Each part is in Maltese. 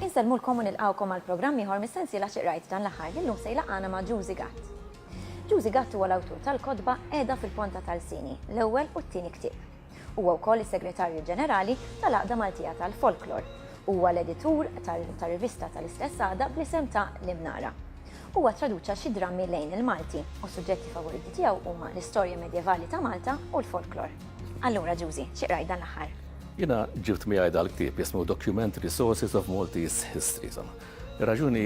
Insellmulkom u nilqawkom għal programm ieħor mis-sensiela xi qrajt dan l-aħħar li llum se jlaqgħana ma' Ġużi Gatt. Ġużi Gatt huwa l-awtur tal-kotba Qiegħda fil-ponta tal-sini, l-ewwel u t-tieni ktieb. Huwa wkoll is-Segretarju Ġenerali tal-Għaqda Maltija tal-Folklor. Huwa l-editur ta' rivista tal-istess għaqda bl-isem ta' L-Imnara. Huwa ttraduċa xi drammi lejn il-Malti u s-suġġetti favoriti tiegħu huma l-istorja medjevali ta' Malta u l-folklor. Allura, Ġużi, xi qrajt dan l-aħħar? Jiena ġibt miegħi dal-ktieb jismu Documentary Sources of Maltese History. Ir-raġuni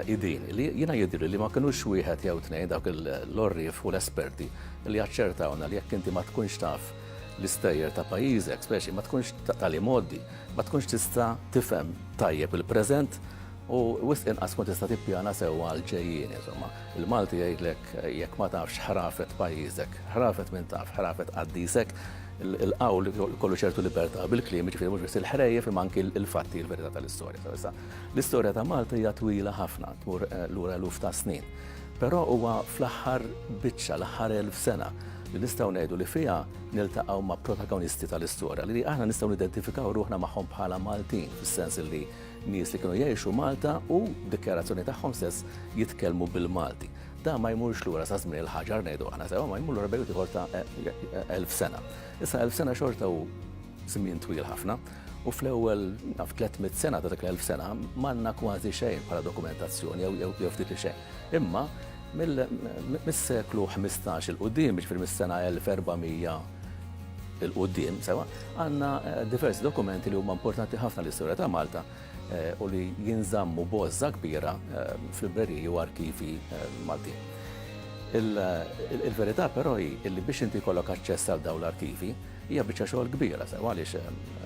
hi din, li jiena jidhirli li ma kinux wieħed jew tnejn dawk l-għorrief u l-esperti li aċċertawna li jekk inti ma tkunx taf l-istejjer ta' pajjiżek, speċi ma tkunx tal-imgħoddi, ma tkunx tista' tifhem tajjeb il-preżent u wisq inqas tkun tista' tippjana sewwa għall-ġejjieni. Insomma, il-Malti jgħidlek jekk ma tafx ħrafet pajjiżek, ħrafet min taf, ħrafet qaddisek, il-qawl ikollu ċertu libertà bil-kliem, jiġifieri mhux biss il-ħrejjef imma anki l-fatti, il-verità tal-istorja. L-istorja ta' Malta hija twila ħafna, tmur lura eluf ta' snin. Però huwa fl-aħħar biċċa, l-aħħar elf sena, li nistgħu ngħidu li fiha niltaqgħu ma' protagonisti tal-istorja li aħna nistgħu nidentifikaw ruħna magħhom bħala Maltin, fis-sens li nies li kienu jgħixu Malta u dikjarazzjoni tagħhom stess jitkellmu bil-Malti. Da ma jmurx lura sa żmien il-ħaġar ngħidu aħna sewa ma jmur lura bejn ieħor ta' elf sena. Issa elf sena xorta hu Żmien twil ħafna, u fl-ewwel naf 300 sena ta' dak l-elf sena m'għandna kważi xejn bħala dokumentazzjoni jew ftit li xejn. Imma mis-seklu ħmistax 'il quddiem, jiġifieri mis-sena 1400 'il quddiem, sewwa, għandna diversi dokumenti li huma importanti ħafna għall-istorja ta' Malta u li jinżammu b'għożża kbira f'libreriji u arkivi Maltin. Il-verità però hi li biex inti jkollok aċċess għal dawn l-arkivi, Hija biċċa xogħol kbira sew għaliex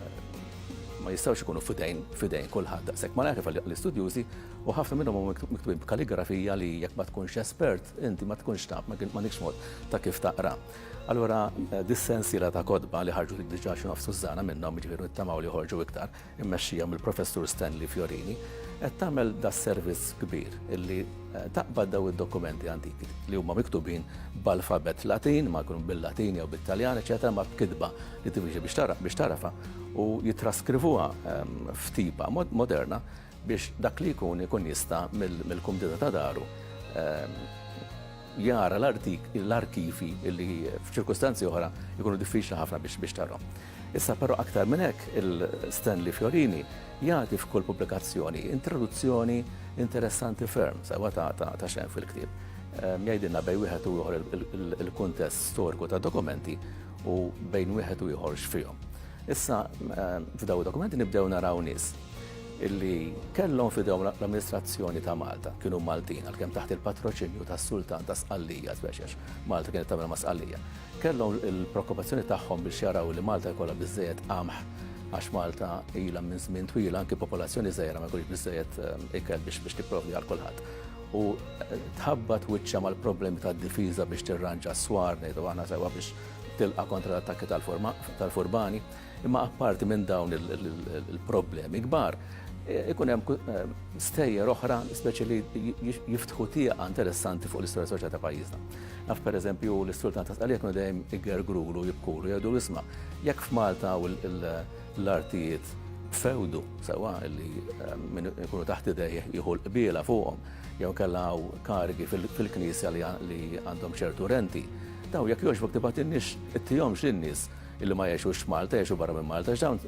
ma jistgħux ikunu f'idejn f'idejn kulħadd daqshekk malajr kif l-istudjużi u ħafna minnhom huma miktubin b'kaligrafija li jekk ma tkunx espert inti ma tkunx taf ma għandekx mod ta' kif taqra. Allura eh, dis-sensiela ta' kodba li ħarġu diġà xi nofs Sużana minnhom jiġifieri nittamaw li joħorġu iktar immexxija mill-Professur Stanley Fiorini, qed tagħmel das-servizz kbir illi taqbad daw id-dokumenti antiki li huma miktubin b'alfabett Latin, ma jkunu bil-Latin jew bit-Taljan, eċetera, ma b'kitba li tivixi biex tara biex tarafha u jitraskrivuha f'tipa moderna biex dak li jkun ikun jista' mill-kumdita ta' daru jara l-arkivi li f'ċirkustanzi oħra jkunu diffiċli ħafna biex tarhom. Issa però aktar minn hekk il-Stanley Fiorini jagħti f'kull pubblikazzjoni introduzzjoni interessanti ferm, sewwa ta' xejn fil-ktieb. Jgħidilna bejn wieħed u ieħor il-kuntest storiku ta' dokumenti u bejn wieħed u ieħor x'fihom. Issa f'dawn id-dokumenti nibdew naraw nies illi kellhom f'idejhom l-amministrazzjoni ta' Malta, kienu Maltin għalkemm taħt il-patroċinju tas-Sultan ta' Sqallija, speċjax Malta kienet tagħmel ma' Sqallija. Kellhom il-preokkupazzjoni tagħhom biex jaraw li Malta jkollha biżżejjed qamħ għax Malta ilha minn żmien twil anki popolazzjoni żgħira ma jkunx biżżejjed eh, ikel biex biex tipprovdi għal kulħadd. U eh, tħabbat wiċċa mal-problemi tad-difiża biex tirranġa s-swar ngħidu aħna sewwa biex tilqa' kontra l-attakki tal-furbani. Imma apparti minn dawn il-problemi kbar, ikun hemm stejjer oħra speċi li jiftħu tieqa interessanti fuq l-istorja soċjali ta' pajjiżna. Naf pereżempju l-istrultan ta' Sqalija kienu dejjem igergrulu, jibkulu, jgħidu isma' jekk f'Malta hawn l-artijiet b'fewdu sewwa li min ikunu taħt idejh jieħu l-qbiela fuqhom jew inkella hawn karigi fil-knisja li għandhom ċertu renti, dawn jekk jogħġbok tibgħatilniex ittihomx lin-nies. illi ma jgħixux f'Malta, jgħixu barra minn Malta, għax dawn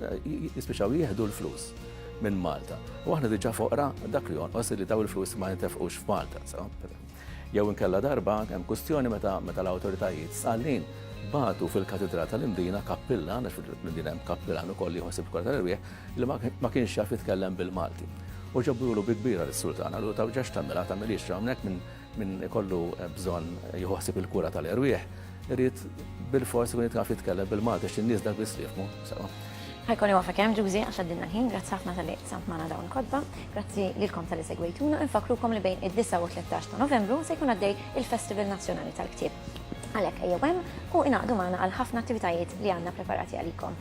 jispiċċaw jieħdu l-flus minn Malta. U aħna diġà foqra dak li jonqos li daw il-flus ma jintefqux f'Malta. Jew inkella darba hemm kwistjoni meta meta l-awtoritajiet sallin batu fil-katidra tal-Imdina kappillan, għax fil-Imdina hemm kappillan ukoll li jħossib kol tal-irwieħ, li ma kienx jaf jitkellem bil-Malti. U ġabulu bi kbira l-sultana, l-utaw ġax tamela, tamelix hawnhekk minn Min ikollu bżonn jieħu ħsieb il-kura tal-erwieħ irid bilfors ikun jaf jitkellem bil-Malti għax in-nies dak biss li jifhmu sew. Ħa jkolli waqfek hemm, Ġużi, għax għaddilna l-ħin. Grazzi ħafna talli qsamt magħna dawn il-kotba. Grazzi lilkom talli segwejtuna. Infakkrukom li bejn id-disgħa u t-tlettax ta' Novembru se jkun għaddej il-Festival Nazzjonali tal-Ktieb. Għalhekk ejjew hemm u ingħaqdu magħna għal ħafna attivitajiet li għandna preparati għalikom.